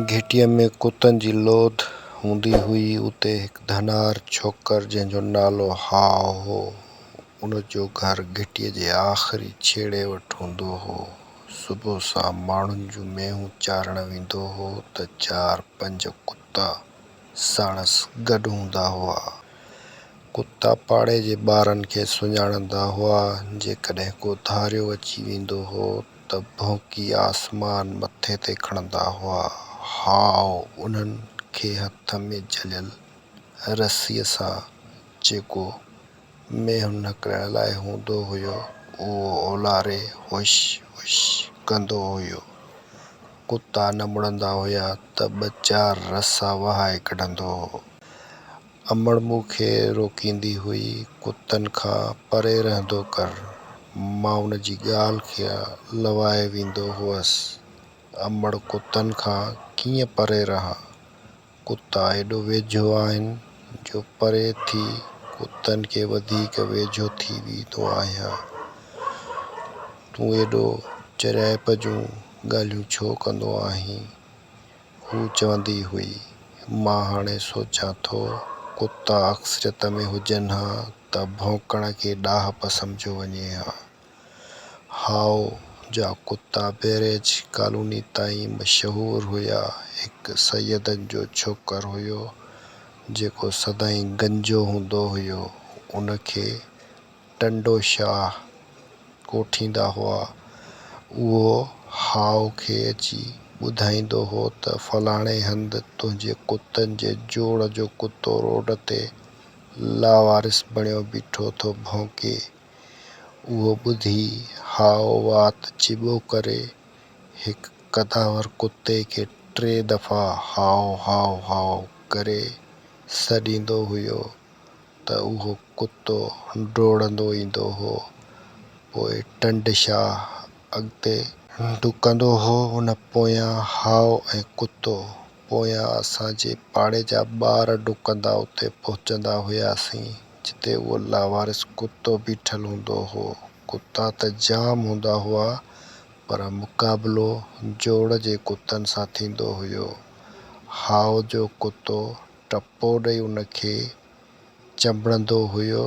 گهٽيء ۾ ڪتن جي لوڌ هوندي هئي. اتي هڪ ڌنار ڇوڪر، جنهن جو نالو هاء هو، ان جو گهر گهٽيء جي آخري ڇيڙي وٽ هوندو هو. صبح سان ماڻهن جون مينهون چارڻ ويندو هو ته چار پنج ڪتا، ساڻس گڏ هوندا هئا. ڪتا پاڙي جي ٻارن کي سڃاڻندا هئا، جيڪڏهن ڪو ڌاريو اچي ويندو هو ته ڀونڪي آسمان مٿي تي کڻندا هئا. هاء انهن کي هٿ ۾ جهليل رسيء سان جيڪو ۾ هن نڪرڻ لاء هوندو هيو، اهو اولاري هوش هوش ڪندو هيو. ڪتا نه مڙندا هيا ته ٻه چار رسا وهائي ڪڍندو هو. امڙ مون کي روڪيندي هئي، ڪتن کان پري رهندو ڪر. مان ان جي ڳالهه کي لوائي ويندو هوس. امڙ ڪتن کان ڪيئن پري رهان؟ ڪتا ايڏو ويجهو آهن جو پري ٿي ڪتن کي وڌيڪ ويجهو ٿي ويندو آهيان. تون ايڏو چريائپ جون ڳالهيون ڇو ڪندو آهين؟ هوء چوندي هئي. مان هاڻي سوچيان ٿو ڪتا اڪثريت ۾ هجن ها ته ڀونڪڻ کي ڏاهپ سمجهيو وڃي ها. هائو جا ڪتا بئريج ڪالوني تائين مشهور هيا. هڪ سيدن جو ڇوڪر هيو، جيڪو سدائين گنجو هوندو هيو. ان کي ٽنڊو شاهه ڪوٺيندا هئا. اهو هائو کي اچي ٻڌائيندو هو ته فلاڻي هنڌ تنهنجي ڪتن جي جوڙ جو ڪتو روڊ تي لاوارث بڻيو بيٺو ٿو ڀونڪي. اهو ٻڌي هاء وات چٻو ڪري هڪ قداور ڪتي کي ٽي دفعا هاء هاء هاء ڪري سڏيندو هيو ته اهو ڪتو ڊوڙندو ايندو هو پوء ٽنڊ شاهه اڳتي ڊڪندو هو ان پويان هاء ۽ ڪتو پويان اسان جي پاڙي جا ٻار ڊڪندا اتي پهچندا هياسين جتي اهو لاوارث ڪتو بيٺل هوندو هو. ڪتا ته جام هوندا هئا، پر مقابلو جوڙ جي ڪتن سان ٿيندو هيو. هاء جو ڪتو ٽپو ڏئي ان کي چنبڙندو هيو.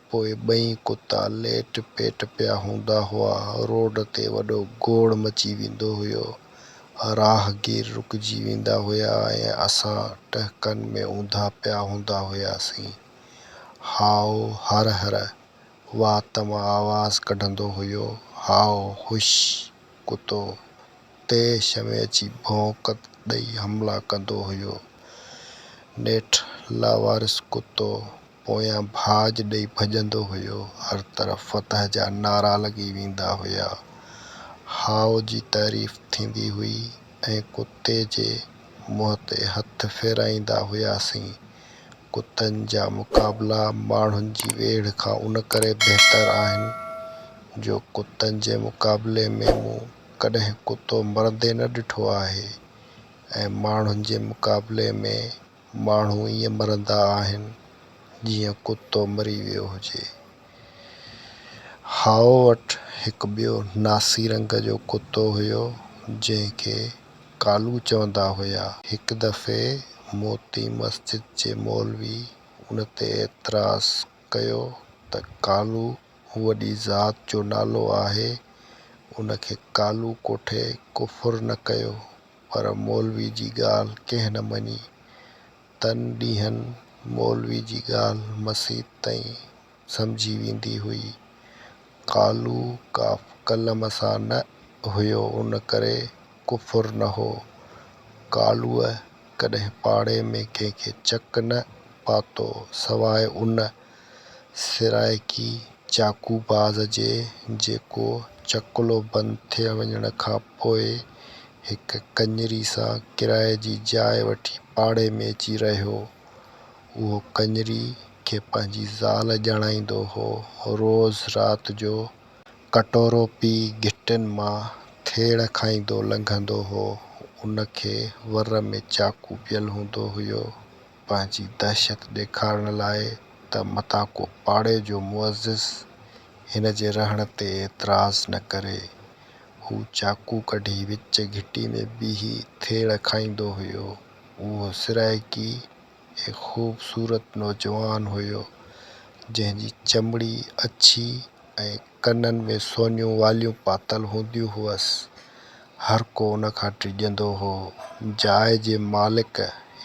پوء ٻئي ڪتا ليٽ پيٽ پيا هوندا هئا. روڊ تي وڏو گوڙ مچي ويندو هيو. راهگير رڪجي ويندا هيا ۽ اسان ٽهڪن ۾ اونڌا پيا هوندا هياسين. هائو هر هر، وات مان آواز ڪڍندو هيو، هائو هش، ڪتو تيش ۾ اچي ڀونڪ ڏئي حملا ڪندو هيو. نيٺ لاوارث ڪتو پويان ڀاڄ ڏئي ڀڄندو هيو. هر طرف فتح جا نعرا لڳي ويندا هيا. هائو جي تعريف ٿيندي هئي ۽ ڪتي جي منهن تي هٿ ڦيرائيندا هياسين. ڪتن جا مقابلا ماڻهن جي ويڙهه کان ان ڪري بهتر آهن جو ڪتن جي مقابلي ۾ مون ڪڏهن ڪتو مرندي نه ڏٺو آهي ۽ ماڻهن جي مقابلي ۾ ماڻهو ائين مرندا آهن جيئن ڪتو مري ويو هجي. هائو وٽ هڪ ٻيو ناسي رنگ جو ڪتو هيو جنهن کي. ڪالو چوندا هيا. هڪ دفعي موتي مسجد جي مولوي ان تي اعتراض ڪيو ته ڪالو وڏي ذات جو نالو آهي، ان کي ڪالو ڪوٺي ڪفر نه ڪيو، پر مولوي جي ڳالهه ڪنهن نه مڃي. تن ڏينهن مولوي جي ڳالهه مسيت تائين سمجهي ويندي هئي. قالو ڪاف قلم سان نه هيو ان ڪري ڪفر نه هو. قالوء ڪڏهن پاڙي ۾ ڪنهن کي چڪ نه پاتو سواء ان سرائڪي چاقو باز جي جيڪو چڪلو بند ٿي وڃڻ کان پوء هڪ ڪڃري سان ڪرائي جي جاء وٺي پاڙي ۾ اچي رهيو. اهو ڪڃري کي پنهنجي زال ڄاڻائيندو هو. روز رات جو ڪٽورو پي گهٽين مان ٿيڙ کائيندو لنگهندو هو. ان کي ور ۾ چاقو پيل هوندو هيو. پنهنجي دهشت ڏيکارڻ لاء ته متان ڪو پاڙي جو معزز هن جي رهڻ تي اعتراض نه ڪري. هو چاقو ڪڍي وچ گهٽي ۾ بيهي ٿيڙ کائيندو هيو. اهو سرائيڪي هڪ خوبصورت نوجوان هيو، جنهن جي چمڙي اڇي ۽ ڪنن ۾ سونيون واليون پاتل هونديون هئس. هر ڪو ان کان ڊڄندو هو. جاء جي مالڪ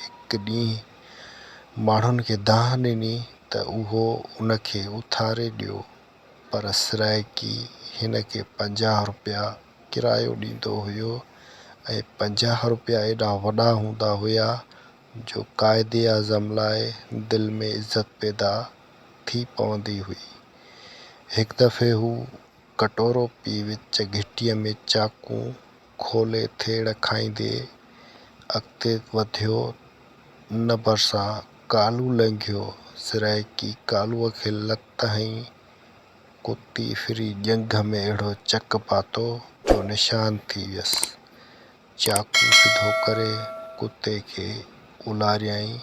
هڪ ڏينهن ماڻهن کي دانهن ڏني ته اهو ان کي اٿاري ڏيو، پر سرائيڪي هن کي پنجاهه رپيا ڪرايو ڏيندو هيو ۽ پنجاهه رپيا ايڏا وڏا هوندا هيا جو قائد اعظم لاء دل ۾ عزت پيدا ٿي پوندي هئي. هڪ دفعي هو ڪٽورو پي وچ گهٽيء ۾ چاقون کولي ٿيڙ کائيندي اڳتي وڌيو نه ڀرسان ڪالو لنگهيو، سرائيڪي ڪالوء کي لت هنئي، ڪتي ڦري ڄنگهه ۾ اهڙو چڪ پاتو جو نشان ٿي ويس. چاقو سڌو ڪري ڪتي کي اولاريائين.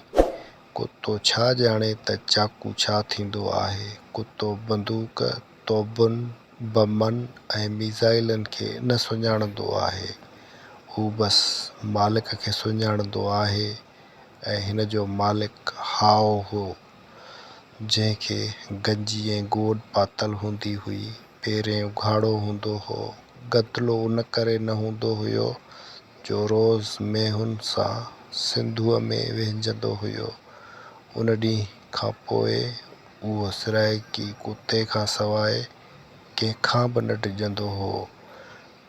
ڪتو ڇا ڄاڻي ته چاقو ڇا ٿيندو آهي. ڪتو بندوق، توبن، بمن ۽ ميزائلن کي نه سڃاڻندو آهي. هو بس مالڪ کي سڃاڻندو آهي ۽ هن جو مالڪ هائو هو. جنهن کي گنجي ۽ گوڏ پاتل هوندي هئي. پيرين اگهاڙو هوندو هو. گدلو ان ڪري نه هوندو هيو جو روز مينهن سان سنڌوء ۾ وهنجندو هيو. ان ڏينهن کان پوء اهو سرائيڪي ڪتي کان سواء ڪنهن کان به نه ڊڄندو هو.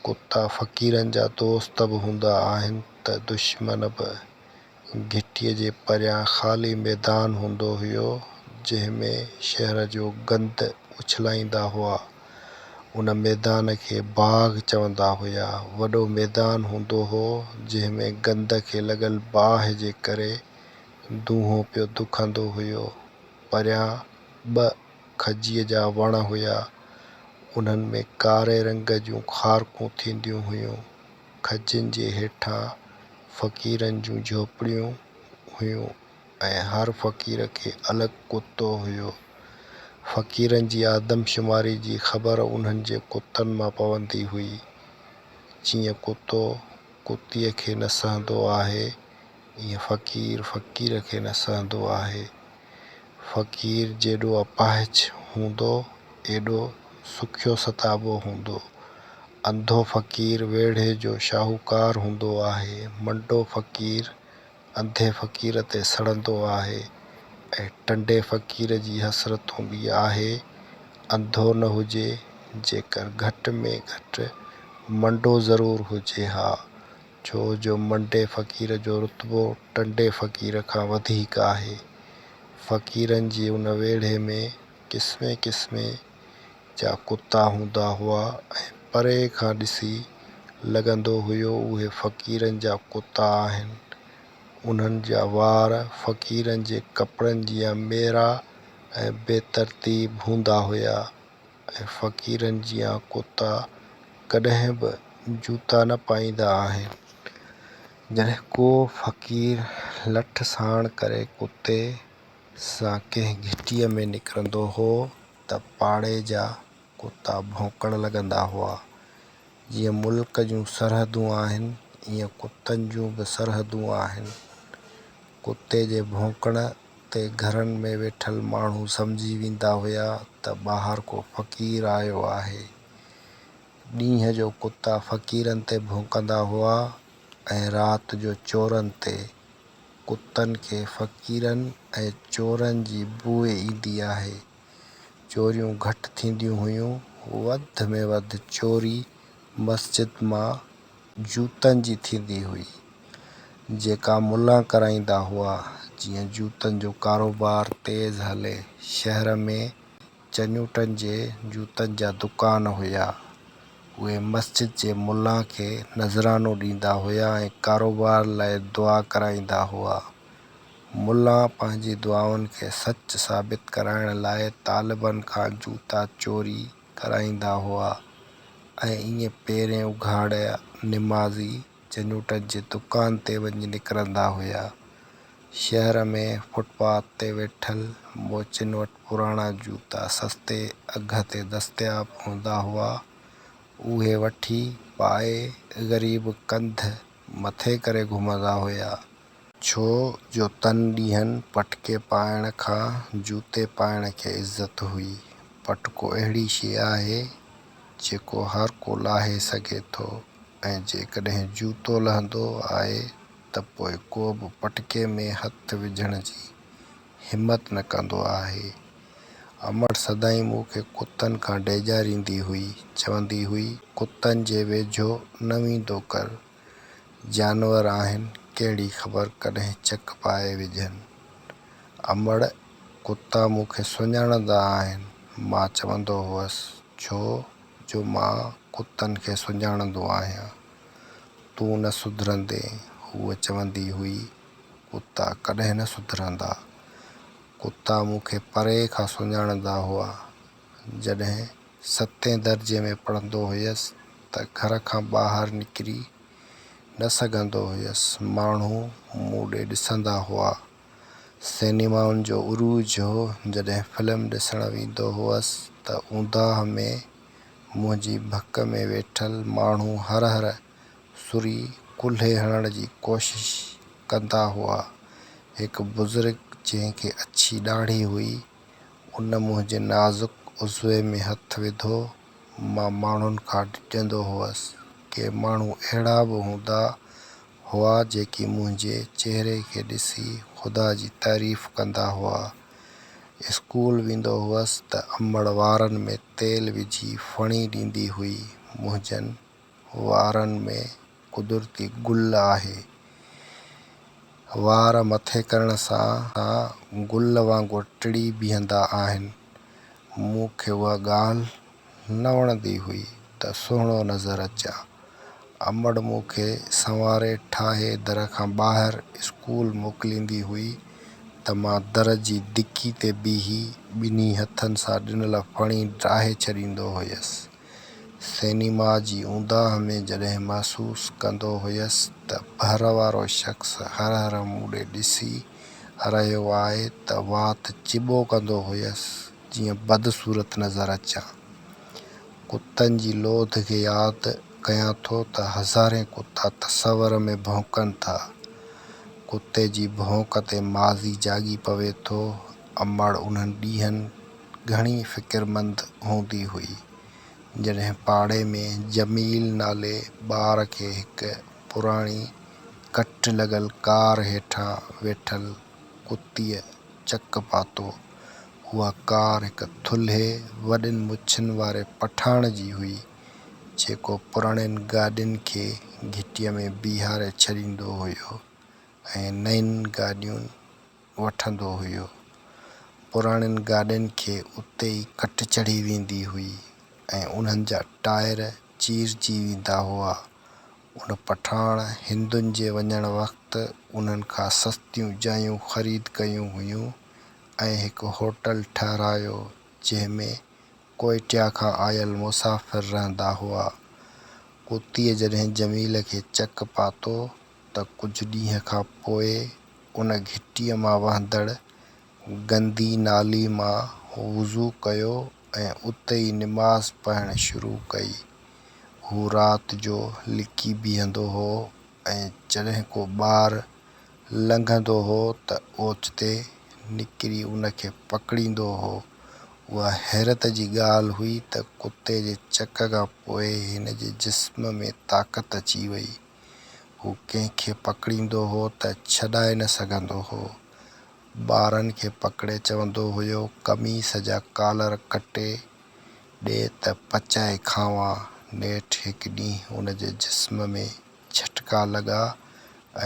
ڪتا فقيرن جا دوست به هوندا آهن ته دشمن به. گهٽيء جي پريان خالي ميدان هوندو هيو، جنهن ۾ شهر جو گند اڇلائيندا هئا. ان ميدان کي باغ چوندا هيا. وڏو ميدان هوندو هو، جنهن ۾ گند کي لڳل باهه جي ڪري دونهو پيو دکندو هيو. پريان ٻه کجيء جا وڻ هيا. انهن ۾ ڪاري رنگ جون خارڪون ٿينديون هيون. کجين جي هيٺان فقيرن جون جهوپڙيون هيون ۽ هر فقير کي الڳ ڪتو هيو. فقيرن جي آدمشماري جي خبر انهن جي ڪتن مان پوندي هئي. جيئن ڪتو ڪتيء کي نه سهندو آهي، ايئن فقير فقير کي نه سهندو آهي. فقير جيڏو اپاهج هوندو، ايڏو سکيو ستابو هوندو. انڌو فقير ويڙهي جو شاهوڪار هوندو آهي. منڊو فقير انڌي فقير تي سڙندو آهي ۽ ٽنڊي فقير جي حسرت هوندي آهي، انڌو نه هجي، جيڪر گهٽ ۾ گهٽ منڊو ضرور هجي ها. ڇو جو منڊي فقير جو رتبو ٽنڊي فقير کان وڌيڪ آهي. فقيرن جي ان ويڙهي ۾ قسمين قسمين جا ڪتا هوندا هئا ۽ پري کان ڏسي لڳندو هيو اهي فقيرن جا ڪتا آهن. انهن جا وار فقيرن جي ڪپڙن جيان ميرا ۽ بي ترتيب هوندا هيا. ۽ فقيرن جيان ڪتا ڪڏهن به جوتا نه پائيندا آهن. جڏهن ڪو فقير لٺ ساڻ ڪري ڪتي سان ڪنهن گهٽيء ۾ نڪرندو هو ته پاڙي جا ڪتا ڀونڪڻ لڳندا هئا. جيئن ملڪ جون سرحدون آهن، ايئن ڪتن جون به سرحدون آهن. ڪتي جي ڀونڪڻ تي گهرن ۾ ويٺل ماڻهو سمجهي ويندا هيا ته ٻاهر ڪو فقير آيو آهي. ڏينهن جو ڪتا فقيرن تي ڀونڪندا هئا ۽ رات جو چورن تي. ڪتن کي فقيرن ۽ چورن جي بوء ايندي آهي. چوريون گهٽ ٿينديون هيون، وڌ ۾ وڌ چوري مسجد مان جوتن جي ٿيندي هئي، جيڪا ملا ڪرائيندا هئا، جيئن جوتن جو ڪاروبار تيز هلي، شهر ۾ چنيوٽن جي جوتن جا دڪان هيا، اهي مسجد جي ملا کي نذرانو ڏيندا هيا ۽ ڪاروبار لاء دعا ڪرائيندا هئا. ملا پنهنجي دعائن کي سچ ثابت ڪرائڻ لاء طالبن کان جوتا چوري ڪرائيندا هئا ۽ ائين پيرين اگهاڙ نمازي جنوٽن جي دڪان تي وڃي نڪرندا هيا. شهر ۾ فٽ پاٿ تي ويٺل موچين وٽ پراڻا جوتا سستي اگهه تي دستياب هوندا هئا، اهي وٺي پائي غريب ڪنڌ مٿي ڪري گهمندا هيا. ڇو جو تن ڏينهن پٽڪي پائڻ کان جوتي پائڻ کي عزت هئي. پٽڪو اهڙي شيء آهي، جيڪو هر ڪو لاهي سگهي ٿو ۽ جيڪڏهن جوتو لهندو آهي ته پوء ڪو به پٽڪي ۾ هٿ وجهڻ جي همت نه ڪندو آهي. امڙ سدائين مون کي ڪتن کان ڊيڄاريندي هئي، چوندي هئي، ڪتن جي ويجهو نه ويندو ڪر، جانور آهن ڪهڙي خبر ڪڏهن چڪ پائي وجهن. امڙ ڪتا مون کي سڃاڻندا آهن مان چوندو هئس ڇو جو مان ڪتن کي سڃاڻندو آهيان. تون نه سڌرندين هوء چوندي هئي ڪتا ڪڏهن نه سڌرندا. ڪتا مون کي پري کان سڃاڻندا هئا. جڏهن ستين درجي ۾ پڙهندو هيس ته گهر کان ٻاهر نڪري نه سگهندو هيس. ماڻهو مون ڏي ڏسندا هئا. سئنيمائن جو عروج هو. جڏهن فلم ڏسڻ ويندو هئس ته اونداهه ۾ منهنجي ڀڪ ۾ ويٺل ماڻهو هر هر سري ڪلهي هڻڻ جي ڪوشش ڪندا هئا. هڪ بزرگ جنهن کي اڇي ڏاڙهي هئي ان منهنجي نازڪ عضوي ۾ هٿ وڌو. مان ماڻهن کان ڊڄندو هوس. ڪي ماڻهو اهڙا به هوندا هئا جيڪي منهنجي چهري کي ڏسي خدا جي تعريف ڪندا هئا. اسڪول ويندو هوس ته امڙ وارن ۾ تيل وجهي ڦڻي ڏيندي هئي. منهنجن. وارن ۾ قدرتي گل آهي. وار مٿي ڪرڻ سان گل وانگر ٽڙي بيهندا آهن. مون کي اها ڳالهه نه وڻندي هئي ته سهڻو نظر اچان. امڙ مون کي سنواري ٺاهي در کان ٻاهر اسڪول موڪليندي هئي ته مان در جي دڪي تي بيهي ٻنهي هٿن سان ڏنل ڦڻي ڊاهي ڇڏيندو هيس. سئنيما جي اونداهه ۾ جڏهن محسوس ڪندو هيس ته ٻهر وارو شخص هر هر مون ڏي ڏسي رهيو آهي ته وات چٻو ڪندو هيس جيئن بدصورت نظر اچان. ڪتن جي لوڌ کي ياد ڪيان ٿو ته هزارين ڪتا تصور ۾ ڀونڪن ٿا. ڪتي جي ڀونڪ تي ماضي جاڳي پوي ٿو، امڙ انهن ڏينهن. گهڻي فڪرمند هوندي هئي. جڏهن پاڙي ۾ جميل نالي ٻار کي هڪ پراڻي ڪٽ لڳل ڪار هيٺان ويٺل ڪتيء چڪ پاتو. اها ڪار هڪ ٿلهي وڏين مڇن واري پٺاڻ جي هئي، جيڪو پراڻين گاڏين کي گهٽيء ۾ بيهاري ڇڏيندو هيو ۽ نئين گاڏيون وٺندو هيو. پراڻين گاڏين کي اتي ئي ڪٽ چڙهي ويندي هئي ۽ انهن جا ٽائر چيرجي ويندا هئا. ان پٺاڻ هندن جي وڃڻ وقت انهن کان سستيون جايون خريد ڪيون هيون ۽ هڪ هوٽل ٺهرايو جنهن ۾ ڪوئيٽيا کان آيل مسافر رهندا هئا. ڪتيء جڏهن جميل کي چڪ پاتو ته ڪجهه ڏينهن کان پوء ان گهٽيء مان وهندڙ گندي نالي مان وضو ڪيو ۽ اتي ئي نماز پڙهڻ شروع ڪئي. هو رات جو لڪي بيهندو هو ۽ جڏهن ڪو ٻار لنگهندو هو ته اوچتي نڪري ان کي پڪڙيندو هو. اها حيرت جي ڳالهه هئي ته ڪتي جي چڪ کان پوء هن جي جسم ۾ طاقت اچي وئي. هو ڪنهن کي پڪڙيندو هو ته ڇڏائي نه سگهندو هو. ٻارن کي پڪڙي چوندو هيو، قميص جا ڪالر ڪٽي ڏي ته پچائي کانئون. نيٺ هڪ ڏينهن ان جي جسم ۾ جهٽڪا لڳا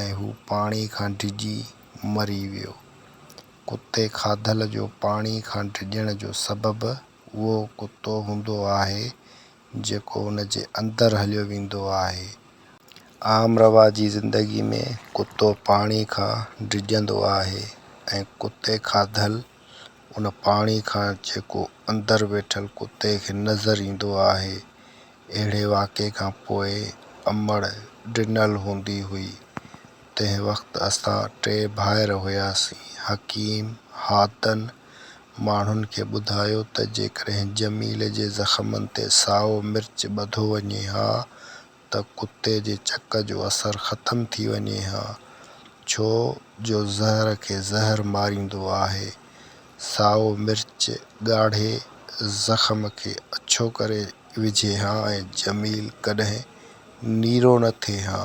۽ هو پاڻي کان ڊڄي مري ويو. ڪتي کاڌل جو پاڻي کان ڊڄڻ جو سبب اهو ڪتو هوندو آهي جيڪو ان جي اندر هليو ويندو آهي. عام رواجي زندگي ۾ ڪتو پاڻي کان ڊڄندو آهي ۽ ڪتي کاڌل ان پاڻي کان جيڪو اندر ويٺل ڪتي کي نظر ايندو آهي. اهڙي واقعي کان پوء امڙ ڊنل هوندي هئي. تنهن وقت اسان ٽي ڀائر هياسين، حڪيم، حاتن ۽ ماڻهن کي ٻڌايو ته جيڪڏهن جميل جي زخمن تي سائو مرچ ٻڌو وڃي ها ته ڪتي جي چڪ جو اثر ختم ٿي وڃي ها، ڇو جو زهر کي زهر ماريندو آهي. سائو مرچ ڳاڙهي زخم کي اڇو ڪري وجهي ها ۽ جميل ڪڏهن نيرو نه ٿئي ها.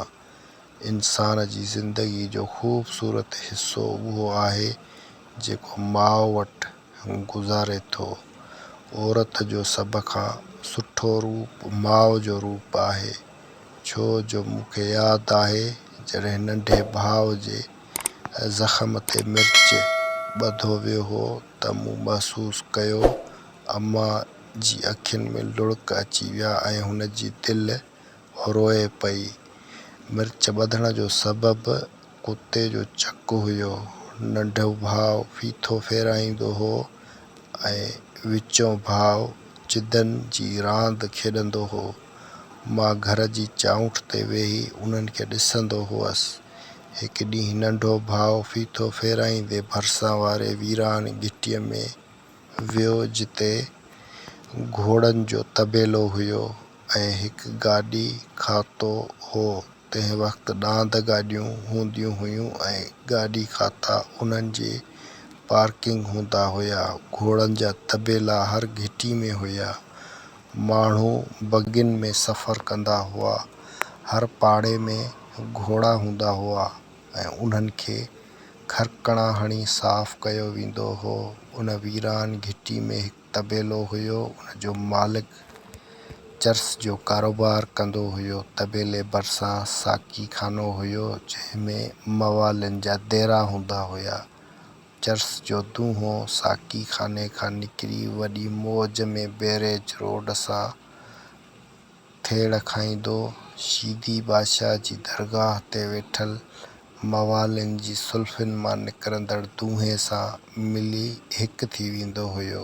انسان جي زندگي جو خوبصورت حصو اهو آهي جيڪو ماء وٽ گذاري ٿو. عورت جو سڀ کان سٺو روپ ماء جو روپ آهي ڇو جو مون کي ياد آهي جڏهن ننڍي ڀاء جي زخم تي مرچ ٻڌو ويو هو ته مون محسوس ڪيو امان جي اکين ۾ لڙڪ اچي ويا ۽ هن جي دل روئي پئي. مرچ ٻڌڻ جو سبب ڪتي جو چڪ هيو. ننڍو ڀاء ڦيٿو ڦيرائيندو هو ۽ وچون ڀاء چدن جي راند کيڏندو هو. مان گهر جي چائونٺ تي ويهي انهن کي ڏسندو هئس. هڪ ڏينهن ننڍو ڀاء ڦيٿو ڦيرائيندي ڀرسان واري ويران گهٽيء ۾ ويو جتي گهوڙن جو طبيلو هيو. ۽ هڪ گاڏي کاتو هو، تنهن وقت ڏاند گاڏيون هونديون هيون ۽ گاڏي کاتا انهن جي پارڪنگ هوندا هيا. گهوڙن جا طبيلا هر گهٽي ۾ هيا. ماڻهو بگين ۾ سفر ڪندا هئا. هر پاڙي ۾ گهوڙا هوندا هئا ۽ انهن کي کرڪڻا هڻي صاف ڪيو ويندو هو. ان ويران گهٽي ۾ هڪ. طبيلو هيو، ان جو مالڪ چرس جو ڪاروبار ڪندو هيو. طبيلي ڀرسان ساقي خانو هيو، جنهن ۾ موالين جا ديرا هوندا هيا. چرس جو دونهو ساقي خاني کان نڪري وڏي موج ۾ بيريج روڊ سان ٿيڙ کائيندو شيدي بادشاهه جي درگاهه تي ويٺل موالين جي سلفين مان نڪرندڙ دونهي سان ملي هڪ ٿي ويندو هيو.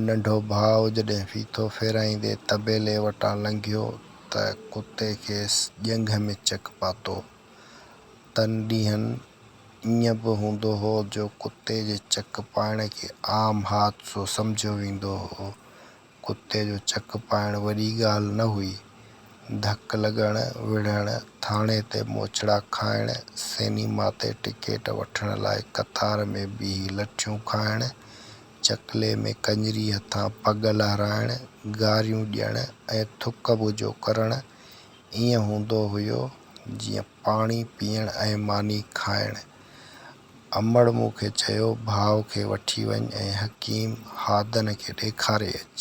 ننڍو ڀاء جڏهن ڦيٿو ڦيرائيندي طبيلي وٽان لنگهيو ته ڪتي کيس ڄنگهه ۾ چڪ پاتو. تن ڏينهن ائين به هوندو هو جو ڪتي جي چڪ پائڻ کي عام حادثو سمجهيو ويندو هو ڪتي جو چڪ پائڻ وڏي ڳالهه نه هئي. ڌڪ لڳڻ، وڙهڻ، ٿاڻي تي موچڙا کائڻ، سينيما تي ٽڪيٽ وٺڻ لاء قطار ۾ بيهي لٺيون کائڻ، چڪلي ۾ ڪڃري هٿان پڳ لهرائڻ، گاريون ڏيڻ ۽ ٿڪ ٻجهو ڪرڻ ائين هوندو هيو جيئن پاڻي پيئڻ ۽ ماني کائڻ. امڙ مون کي چيو، ڀاء کي وٺي وڃ ۽ حڪيم هادن کي ڏيکاري اچ.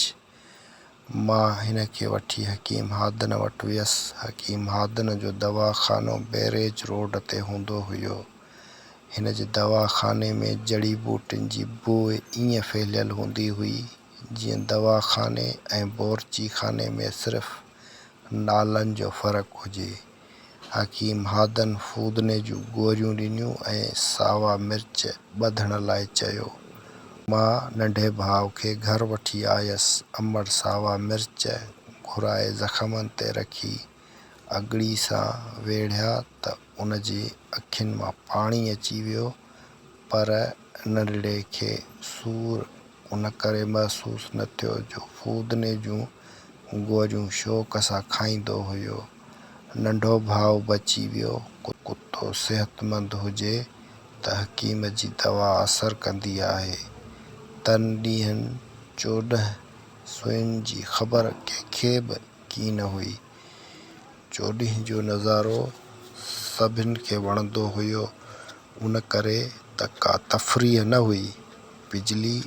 مان هن کي وٺي حڪيم هادن وٽ ويس. حڪيم هادن جو دوا خانو بئريج روڊ تي هوندو هيو. هن جي دوا خاني ۾ جڙي ٻوٽين جي بوء ائين ڦهليل هوندي هئي، جيئن دوا خاني ۽ بورچي خاني ۾ صرف نالن جو فرق هجي. حڪيم هادن فودني جون گوريون ڏنيون ۽ ساوا مرچ ٻڌڻ لاء چيو. مان ننڍي ڀاء کي گهر وٺي آيس. امڙ ساوا مرچ گهرائي زخمن تي رکي اڳڙي سان ويڙهيا ته ان جي اکين مان پاڻي اچي ويو. پر نرڙي کي سور ان ڪري محسوس نه ٿيو جو فودني جون گوجون شوق سان کائيندو هيو. ننڍو ڀاء بچي ويو. ڪتو صحتمند هجي ته حڪيم جي دوا اثر ڪندي آهي. تن ڏينهن چوڏهن سوين جي خبر ڪنهن کي به ڪين هئي. چوڏهين جو نظارو سڀن کي وڻندو هيو. ان ڪري ته ڪا تفريح نه هئي، بجلي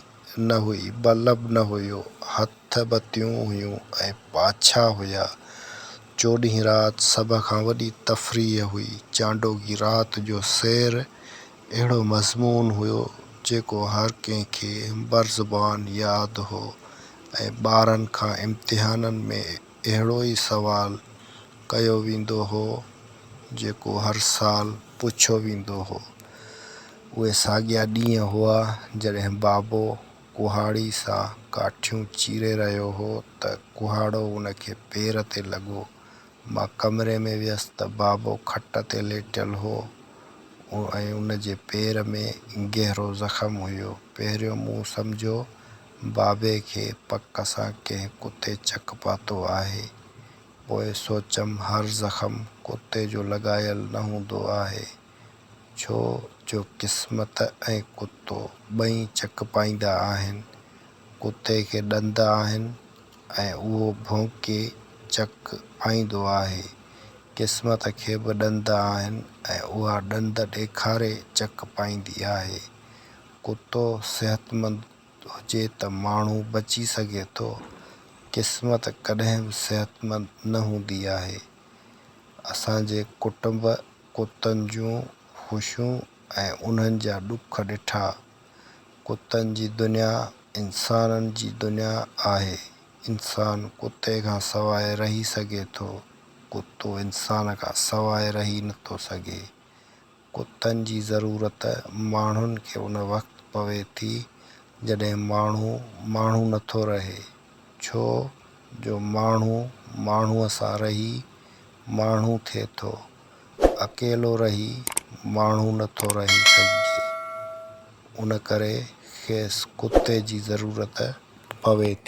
نه هئي، بلب نه هيو، هٿ بتيون هيون ۽ پاڇا هيا. چوڏهين رات سڀ کان وڏي تفريح هئي. چانڊوگي رات جو سير اهڙو مضمون هيو، جيڪو هر ڪنهن کي برزبان ياد هو ۽ ٻارن کان امتحانن ۾ اهڙو ئي سوال ڪيو ويندو هو، جيڪو هر سال پڇيو ويندو هو. اهي ساڳيا ڏينهن هئا، جڏهن بابو ڪهاڙي سان ڪاٺيون چيري رهيو هو ته ڪهاڙو ان کي پير تي لڳو. مان ڪمري ۾ ويس ته بابو کٽ تي ليٽيل هو ۽ ان جي پير ۾ گهرو زخم هيو. پهريون مون سمجهيو بابي کي پڪ سان ڪنهن ڪتي چڪ پاتو آهي. پوء سوچيم هر زخم ڪتي جو لڳايل نه هوندو آهي، ڇو جو قسمت ۽ ڪتو ٻئي چڪ پائيندا آهن. ڪتي کي ڏند آهن ۽ اهو ڀونڪي چڪ پائيندو آهي. قسمت کي به ڏند آهن ۽ اها ڏند ڏيکاري چڪ پائيندي آهي. ڪتو صحتمند هجي ته ماڻهو بچي سگهي ٿو. قسمت ڪڏهن به صحتمند نه هوندي آهي. اسان جي ڪٽنب ڪتن جون خوشيون ۽ انهن جا ڏک ڏٺا. ڪتن جي دنيا انسانن جي دنيا آهي. انسان ڪتي کان سواء رهي سگهي ٿو. ڪتو انسان کان سواء رهي نٿو سگهي. ڪتن جي ضرورت ماڻهن کي ان وقت پوي ٿي جڏهن ماڻهو ماڻهو نٿو رهي ڇو جو ماڻهو ماڻهوء سان رهي ماڻهو ٿئي ٿو اڪيلو رهي ماڻهو نٿو رهي سگهجي ان ڪري کيس ڪتي جي ضرورت پوي ٿي.